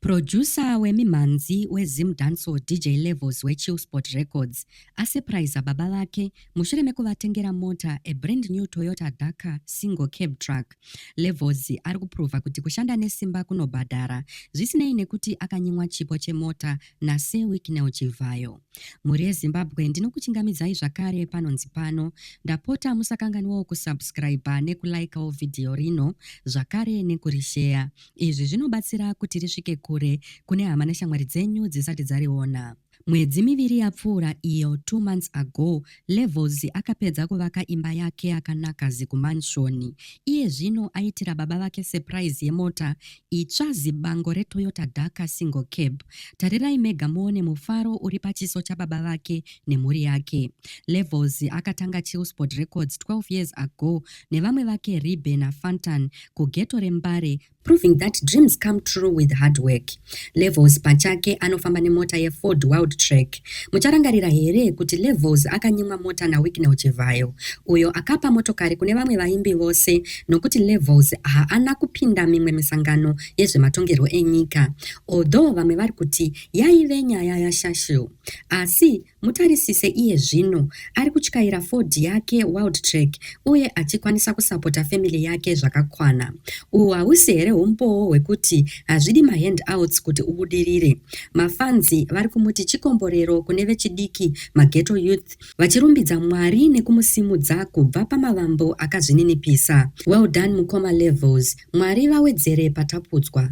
Producer wemimhanzi weZim Dancehall DJ Levels weChillspot Records asurpriser baba vake mushure mekuvatengera mota a brand new Toyota Dakar single cab truck. Levels ari kuprova kuti kushanda nesimba kunobhadhara zvisinei nekuti akanyimwa chipo chemota naSir Wicknell Chivhayo. Mhuri yeZimbabwe ndinokuchingamidzai zvakare panonzi pano. Ndapota musakanganwawo kusubscriber nekulikawo vhidhiyo rino zvakare nekurisheya. Izvi zvinobatsira kuti risvike kure kune hama neshamwari dzenyu dzisati dzariona. Mwedzi miviri yapfuura iyo, two months ago, Levels akapedza kuvaka imba yake yakanaka zikumanshoni. Iye zvino aitira baba vake surprise yemota itsva zibango reToyota Darker Single Cab. Tarirai mega muone mufaro uri pachiso chababa vake nemhuri yake. Levels akatanga Chillsport Records 12 years ago nevamwe vake Ribe naFantan kugeto reMbare proving that dreams come true with hard work levels pachake anofamba nemota yeford wild track mucharangarira here kuti levels akanyimwa mota nawicknel chivhayo uyo akapa motokari kune vamwe vaimbi vose nokuti levels haana kupinda mimwe misangano yezvematongerwo enyika although vamwe vari kuti yaive nyaya yashashu asi Mutarisise iye zvino ari kutyaira Ford yake Wildtrak uye achikwanisa kusapota family yake zvakakwana. Uhu hausi here humbowo hwekuti hazvidi mahandouts kuti ubudirire? Mafanzi vari kumuti chikomborero kune vechidiki maghetto youth vachirumbidza Mwari nekumusimudza kubva pamavambo akazvininipisa. Well done mukoma Levels, Mwari vawedzere patapudzwa.